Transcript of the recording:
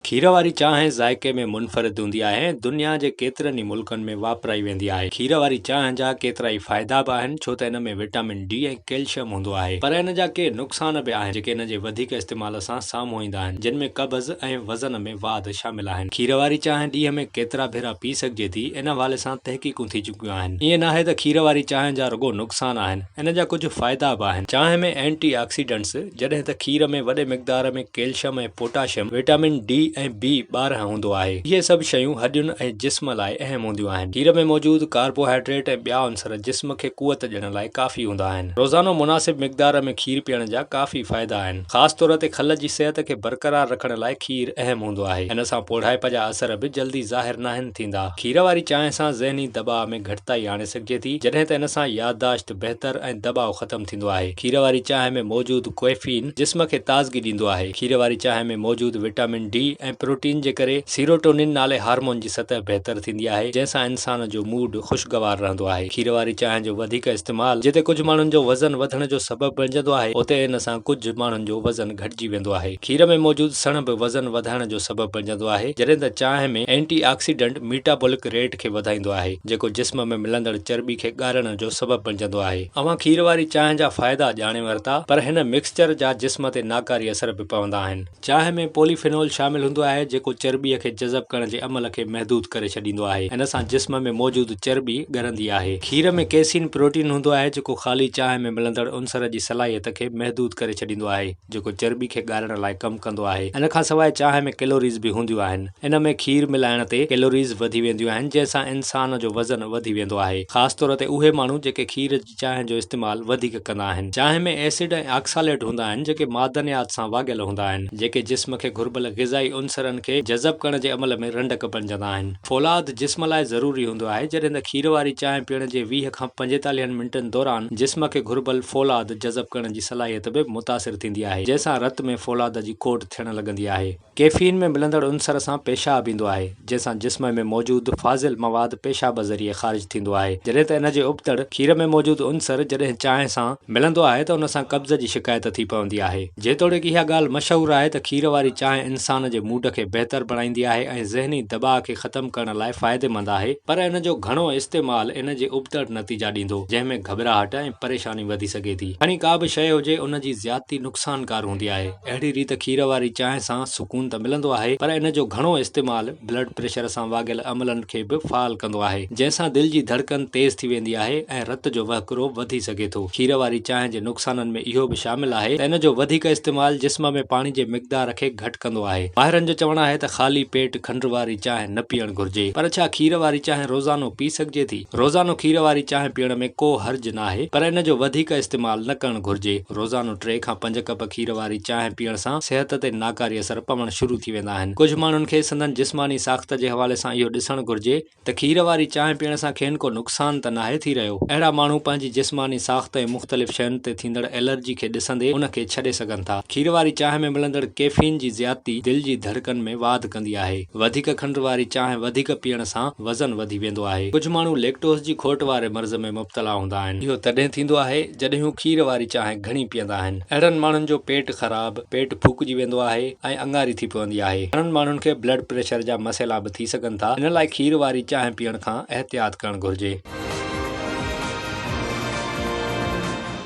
کير واري چانهه ذائقي ۾ منفرد هوندي آهي ۽ دنيا جي ڪيترن ئي ملڪن ۾ واپرائي ويندي آهي. کير واري چانهه جا ڪيترائي فائدا به آهن ڇو ته ان ۾ وٽامن ڊي ۽ ڪيلشم هوندو آهي پر ان جا ڪي نقصان به آهن جيڪي ان جي وڌيڪ استعمال سان سامهون ايندا آهن جن ۾ قبض ۽ وزن ۾ واڌ شامل آهن. کير واري چانهه ڏينهن ۾ ڪيترا ڀيرا پي سگهجي ٿي ان حوالي سان تحقيقون ٿي چڪيون آهن. ائين ناهي ته کير واري چانهه جا رڳو نقصان آهن ان جا ڪجهه فائدا به آهن. چانهه ۾ اينٽي آڪسيڊنٽس جڏهن ته کير ۾ وڏي مقدار ۾ calcium ۽ potassium, vitamin D ۽ B ٻارهن هوندو آهي. اهي سڀ شيون هڏين ۽ جسم لاء اهم هونديون آهن. کير ۾ موجود ڪاربوهائيڊريٽ ۽ ٻيا عنصر جسم کي قوت ڏيڻ لاء ڪافي هوندا آهن. روزانو مناسب مقدار ۾ کير پيئڻ جا ڪافي فائدا آهن. خاص طور تي کل جي صحت کي برقرار رکڻ لاء کير اهم هوندو آهي. ان سان پوڙهائپ جا اثر به جلدي ظاهر ناهن ٿيندا. کير واري چانهه سان ذهني دٻاء ۾ گهٽتائي آڻي سگهجي ٿي، جڏهن ته ان سان يادداشت، بهتر ۽ دٻاء ختم ٿيندو آهي. کير واري چانهه ۾ موجود ڪوئفين جسم کي تازگي ڏيندو آهي. کير واري چانهه ۾ موجود وٽامن ڊي ۽ پروٽين جي ڪري سيروٽونين نالي هارمون جي سطح بهتر ٿيندي آهي، جنهن سان انسان جو موڊ خوشگوار رهندو آهي. کير واري چانهه جو وڌيڪ استعمال جتي ڪجهه ماڻهن جو وزن وڌڻ جو سبب بڻجندو آهي، اتي ان سان ڪجهه ماڻهن جو وزن گهٽجي ويندو آهي. کير ۾ موجود سڻ به وزن وڌائڻ جو سبب بڻجندو آهي، جڏهن ته چانهه ۾ اينٽي آڪسيڊنٽ ميٽابولڪ ريٽ کي وڌائيندو آهي. جيڪو جسم ۾ ملندڙ چرٻي کي ڳارڻ جو سبب بڻجندو آهي. اوهان کير واري چانهه جا فائدا ڄاڻي ورتا پر هن مڪسچر جا جسم تي ناڪاري اثر به پوندا آهن. چانهه ۾ پولي فينول شامل هوندو آهي جيڪو چرٻي کي جذب ڪرڻ جي عمل کي محدود ڪري ڇڏيندو آهي. ان سان جسم ۾ موجود چرٻي ڳرندي آهي. کير ۾ ڪيسين پروٽين هوندو آهي جيڪو خالي چانهه ۾ ملندڙ عنصر جي صلاحيت کي محدود ڪري ڇڏيندو آهي. جيڪو چرٻي کي ڳارڻ لاء ڪم ڪندو آهي. ان کان سواء چانهه ۾ ڪيلوريز به هونديون آهن. ان ۾ کير ملائڻ تي ڪيلوريز وڌي وينديون آهن، جنهن سان انسان جو وزن وڌي ويندو آهي. خاص طور تي اهي ماڻهو جيڪي کير جي چانهه جو استعمال وڌيڪ ڪندا آهن. چانهه ۾ ايسڊ ۽ آڪساليٽ هوندا آهن، جيڪي معدنيات سان واڳيل هوندا آهن، جيڪي جسم کي گهربل غذائي عنصرن کي جذب ڪرڻ جي عمل ۾ رنڊڪ بڻجندا آهن. فولاد جسم لاء ضروري هوندو آهي، جڏهن ته کير واري چانهه پيئڻ جي ويهه کان پنجيتاليهن منٽن دوران جسم کي گهربل فولاد جذب ڪرڻ جي صلاحيت به متاثر ٿيندي آهي، جنهن سان رت ۾ فولاد جي کوٽ ٿيڻ لڳندي آهي. ڪيفين ۾ ملندڙ عنصر سان پيشاب ايندو آهي، جنهن سان جسم ۾ موجود فاضل مواد پيشاب ذريعي خارج ٿيندو آهي، جڏهن ته ان جي ابتڙ، کير ۾ موجود عنصر جڏهن چانهه سان ملندو آهي ته ان سان قبض جي شڪايت ٿي پوندي آهي. جيتوڻيڪ اها ڳالهه مشهور آهي ته کير واري چانهه انسان جي موڊ کي بهتر بڻائيندي آهي ۽ ذهني دٻاء کي ختم ڪرڻ لاء فائديمند آهي، پر ان جو گهڻو استعمال ان جي ابتڙ نتيجا ڏيندو، جنهن ۾ گهٻراهٽ ۽ پريشاني. ۽ وڌي سگهي ٿي. کڻي ڪا به شيء هجي ان جي زيادتي نقصانڪار هوندي آهي. اهڙي ريت کير واري چانهه سان سڪون ته ملندو آهي پر ان جو گهڻو استعمال بلڊ پريشر سان واڳيل عملن کي به فعال ڪندو آهي جنهن سان دل جي ڌڙڪن تيز ٿي ويندي آهي ۽ رت جو وهڪرو وڌي سگهي ٿو. کير واري چانهه جي نقصانن ۾ اهو به شامل آهي ته ان جو وڌيڪ استعمال جسم ۾ پاڻي جي مقدار کي گهٽ ڪندو آهي. ماهرن جو چوڻ آهي ته خالي پيٽ کنڊ واري چانهه نه پيئڻ گهرجي پر ڇا کير واري چانهه روزانو پي سگهجي ٿي؟ روزانو کير واري چانهه پيئڻ ۾ ڪو حرج ناهي پر ان جو وڌيڪ استعمال نه ڪرڻ گهرجي، روزانو ٽي کان پنج ڪپ کير واري چانهه پيئڻ سان صحت تي ناڪاري اثر پوڻ شروع ٿي ويندا آهن، ڪجهه ماڻهن کي سندن جسماني ساخت جي حوالي سان اهو ڏسڻ گهرجي ته کير واري چانهه پيئڻ سان کين ڪو نقصان ته ناهي ٿي رهيو، اهڙا ماڻهو پنهنجي جسماني ساخت ۽ مختلف شين تي ٿيندڙ الرجي کي ڏسندي ان کي ڇڏي سگهن ٿا، کير واري چانهه ۾ ملندڙ ڪيفين جي زيادتي دل جي ڌڙڪن ۾ واڌ ڪندي آهي. وڌيڪ کنڊ واري چانهه وڌيڪ پيئڻ سان وزن وڌي ويندو آهي. ڪجهه ماڻهو ليڪٽوز جي کوٽ واري مرض ۾ مبتلا هوندا آهن. اهو تڏهن ٿيندو آهي جڏهن هو کير واري چانهه گهڻي پيئندا آهن. اهڙن ماڻهن جو پيٽ خراب، پيٽ ڦوڪجي ويندو آهي ۽ اڱاري ٿي پوندي آهي. گهڻن ماڻهن کي بلڊ پريشر جا مسئلا به ٿي سگهن ٿا. ان لاء کير واري چانهه پيئڻ کان احتياط ڪرڻ گهرجي.